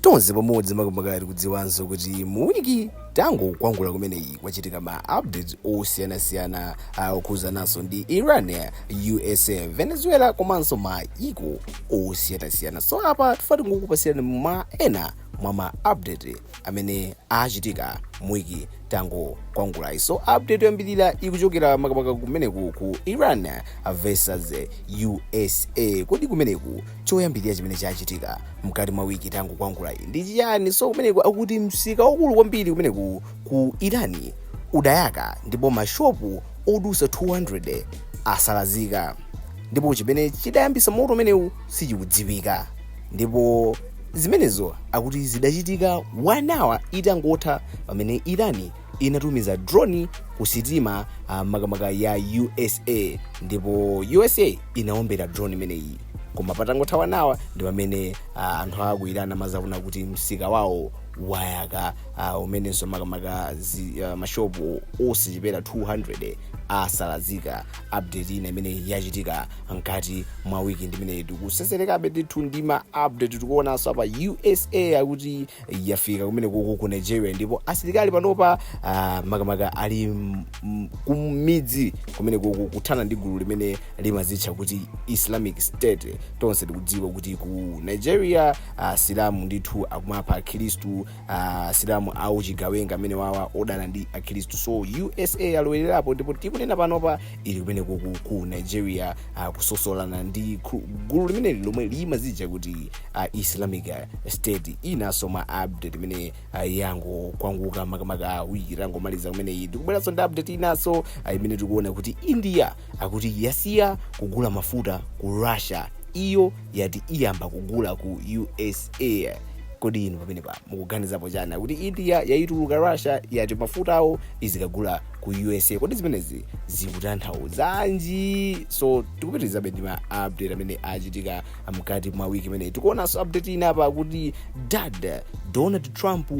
tonse pamodzi makamaka tikudziwanso kuti muwiki tangokwangula kumeneyi kwachitika ma updates osiyanasiyana ah, okhuzananso ndi iran usa venezuela komanso maiko osiyanasiyana so apa tifuna tingokupasirani ma ena mwa ma update amene achitika muwiki tangokwangulayi so update yoyambirira ikuchokera makamaka kumeneku ku iran versus usa kodi kumeneku Choyambilira chimene chachitika mkati mwa wiki tangokwangulayi ndi chiyani? So kumeneku akuti msika waukulu kwambiri kumeneku ku Irani udayaka ndipo mashopu odutsa 200 asalazika ndipo chimene chidayambisa moto umenewu sichikudziwika ndipo zimenezo akuti zidachitika 1 hour itangotha pamene Irani inatumiza drone ku sitima uh, makamaka ya usa ndipo usa inaombera drone imeneyi koma patangotha one hour ndi pamene uh, anthu aku iran amazaona kuti msika wawo wayaka uh, umenenso makamaka zi- uh, mashopu osachepera 200 asalazika update ina imene yachitika mkati mwa wiki imeneyi tikuseserekabe ndithu ndi ma update tikuonanso apa usa akuti yafika kumenekoku ku nigeria ndipo asilikali panopa ah, makamaka ali m- m- kumidzi kumenekoku kuthana ndi gulu limene limazitcha kuti islamic state tonse tikudziwa kuti ku nigeria ah, asilamu ndithu akumapha akhristu ah, asilamu auchigawenga amenewawa odana ndi akhristu so usa yalowererapo ndipo tikunena panopa ili kumeneko ku, ku nigeria uh, kusosolana ndi khu- gulu limeneli lomwe limazitcha kuti uh, islamic uh, state inanso mwa update imene uh, yangokwanguka makamaka wiki tangomaliza kumeneyi ndikubweranso ndi update inanso uh, imene tikuona kuti india akuti yasiya kugula mafuta ku russia iyo yati iyamba kugula ku usa kodi inu pamenepa mukuganizapo chani kuti india yaituluka russia yati mafuta awo izikagula ku usa kodi zimenezi zikutanthauzanji so tikupitirizabe ndi ma update amene achitika mkati mwa wiki imeneyi tikuonanso update ina apa kuti dad donald trump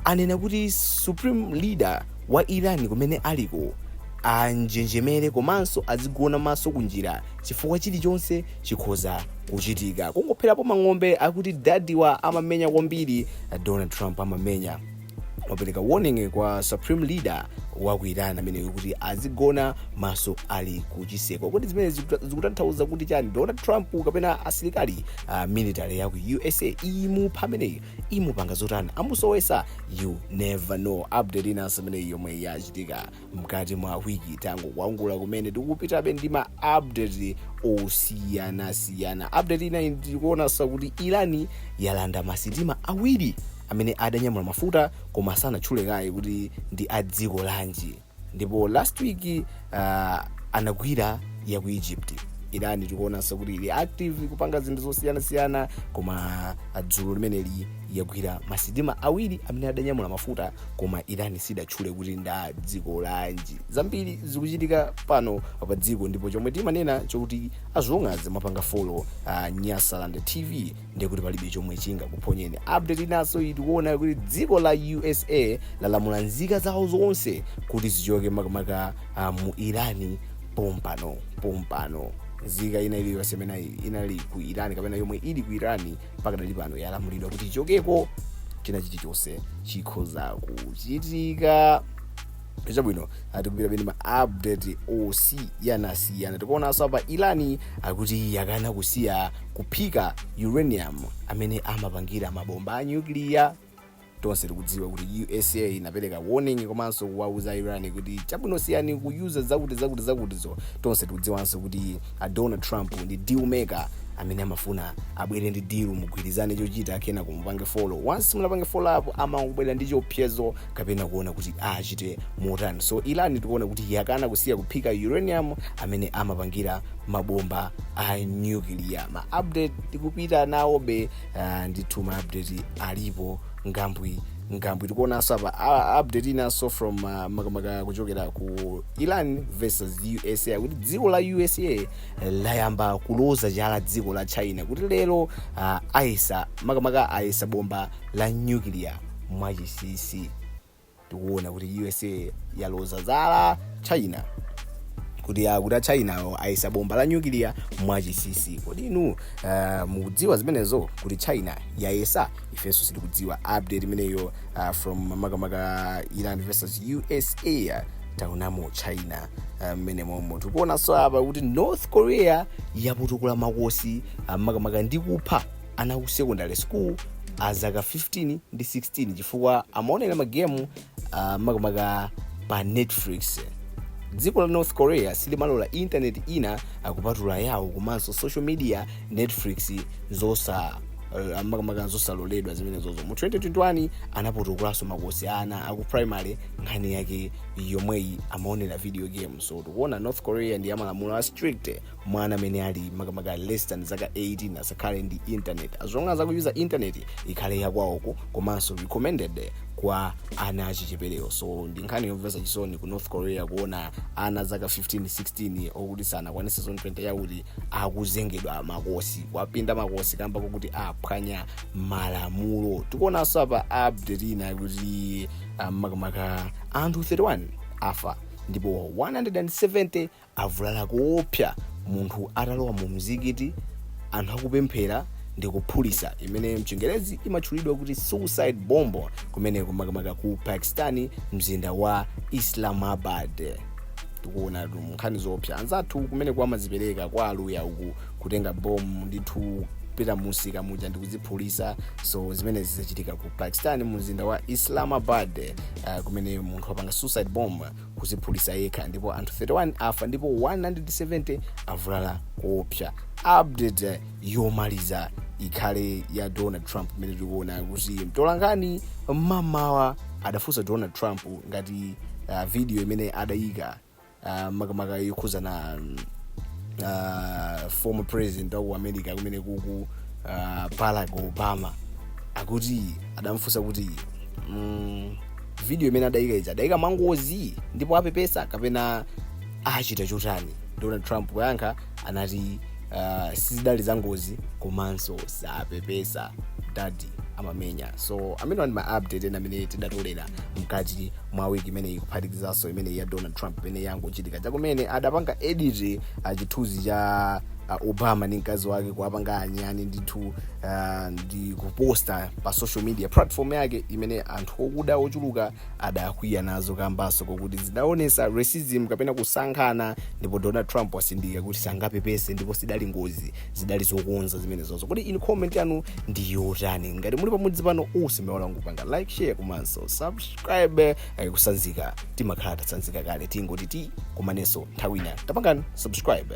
anena kuti supreme leader wa iran kumene aliko anjenjemere komanso azigona maso kunjira chifukwa chilichonse chikhoza kuchitika kungopherapo mang'ombe akuti dadiwa amamenya kwambiri donald trump amamenya wapereka warning kwa supreme leader wa ku iran ameneyo kuti azigona maso ali kuchiseko kodi zimenezi zikuta- zikutanthauza kuti chani donald trump kapena asilikali uh, military ya ku usa imupha ameneyo imupanga zotani amusowesa you never know update inanso imeneyi yomwe yachitika mkati mwa wiki tangokuwangula kumene tikupitabe ndi ma update osiyanasiyana update ina tikuonanso kuti irani yalanda masitima awiri amene adanyamula mafuta koma sanatchule kaye kuti ndi a dziko lanji ndipo last week uh, anagwira ya ku egypt irani tikuonanso kuti ili active kupanga zinthu zosiyanasiyana koma dzulo limeneli yagwira masitima awiri amene adanyamula mafuta koma iran sidatchule kuti nda dziko lanji zambiri zikuchitika pano pa dziko ndipo chomwe timanena chokuti as long as mwapanga follow uh, nyasaland tv ndiye kuti palibe chomwe chingakuphonyeni update inanso tikuona kuti dziko la usa lalamula nzika zawo zonse kuti zichoke makamaka uh, mu irani pompano pompano nzika ina iliyonse imene inali ku irani kapena yomwe ili ku irani pakadali pano yalamulidwa kuti ichokeko china chilichonse chikhoza kuchitika chabwino tikupitabe ndi ma update osiyanasiyana tikuonanso apa irani akuti yakana kusiya kuphika uranium amene amapangira mabomba a nyukiliya tonse tikudziwa kuti usa inapereka warning komanso kuwauza iran kuti chabwino siyani kuyuza zakuti zakuti zakutizo tonse tikudziwanso kuti a donald trump ndi deal maker amene amafuna abwere ndi deal mugwirizane chochita kenako mupange follow once musanapange follow apo amangobwera ndi chiopsezo kapena kuona kuti achite motani so iran tikuona kuti yakana kusiya kuphika uranium amene amapangira mabomba a nuclear ma update tikupita nawobe uh, ndithu ma update alipo ngambwi ngambwi tikuonanso apa a- update inanso from uh, makamaka kuchokera ku iran versus usa kuti dziko la usa eh, layamba kuloza chala dziko la china kuti lero uh, ayesa makamaka ayesa bomba la nuclear mwachinsinsi tikuona kuti usa yaloza chala china kuti akuti a chinawo ayesa bomba la nyukiliya mwachinsinsi kodi inu ah, mukudziwa zimenezo kuti china yayesa ifenso sitikudziwa update imeneyo ah, from makamaka iran versus usa taonamo china ah, mmene momo tikuonanso apa kuti north korea yapotokola makosi ah, makamaka ndi kupha ana aku sekondale sukulu a zaka 15 ndi 16 chifukwa amaonera magemu uh, makamaka pa netflix dziko la north korea silimalora intaneti ina kupatula yawo komanso social media netflix zosa uh, makamaka zosaloledwa zimenezozo mu 2021 anapotokolanso makosi ana aku primary nkhani yake yomweyi amaonera video games so tikuona north korea ndi ya malamulo a strict mwana amene ali makamaka less than zaka 18 asakhale ndi internet as long as akuuza internet ikhale yakwawoko komanso recommended kwa ana achicheperewo so ndi nkhani yomvetsa chisoni ku north korea kuona ana zaka 15 16 okuti sanakwanise zaka 20 yakuti akunyongedwa makosi kuwapinda makosi kamba kokuti aphwanya malamulo tikuonanso apa update ina kuti ah, makamaka anthu 31 afa ndipo 170 avulala koopsa munthu atalowa mu mzikiti anthu akupemphera ndi kuphulisa imene mchingerezi imatchulidwa kuti suicide bomb kumeneko makamaka ku pakistani mzinda wa islamabad tikuona tu nkhani zoopsa anzathu kumeneko amazipereka kwa aluya uku kutenga bomu ndithu pita mzikiti muja ndikudziphulisa so zimenezi zachitika ku pakistan mu mzinda wa islamabad uh, kumene munthu apanga suicide bomb kuziphulisa yekha ndipo anthu 31 afa ndipo 170 avulala koopsa update yomaliza ikhale ya donald trump imene tikuona kuti mtolankhani mmamawa adafunsa donald trump ngati uh, video imene adayika uh, makamaka yokhuzana um, uh, former president wa ku america kumeneku uh, barack obama akuti adamfunsa kuti mm, video imene adayika ija adayika mwangozi ndipo apepesa kapena achita chotani donald trump poyankha anati uh, sizidali za ngozi komanso sapepesa dadi amamenya so amenewa ndi maupdate ena amene tidatolera mkati mwa wiki imene ikuphatikizanso imene ya donald trump imene yangochitika chakumene adapanga edit uh, chithunzi cha uh, obama ndi mkazi wake kuwapanga anyani ndithu uh, ndi kuposta pa social media platform yake imene anthu okuda ochuluka adakwiya nazo kambanso kokuti zidaonesa racism kapena kusankhana ndipo donald trump watsindika kuti sangapepese ndipo sidali ngozi zidali zokonza zimenezozo kodi inu comment yanu ndi yotani ngati muli pamudzi pano musaiwale kupanga like share komanso subscribe eh, kutsanzika timakhala tatsanzika kale tingoti ti kumanenso nthawi ina tapangani subscribe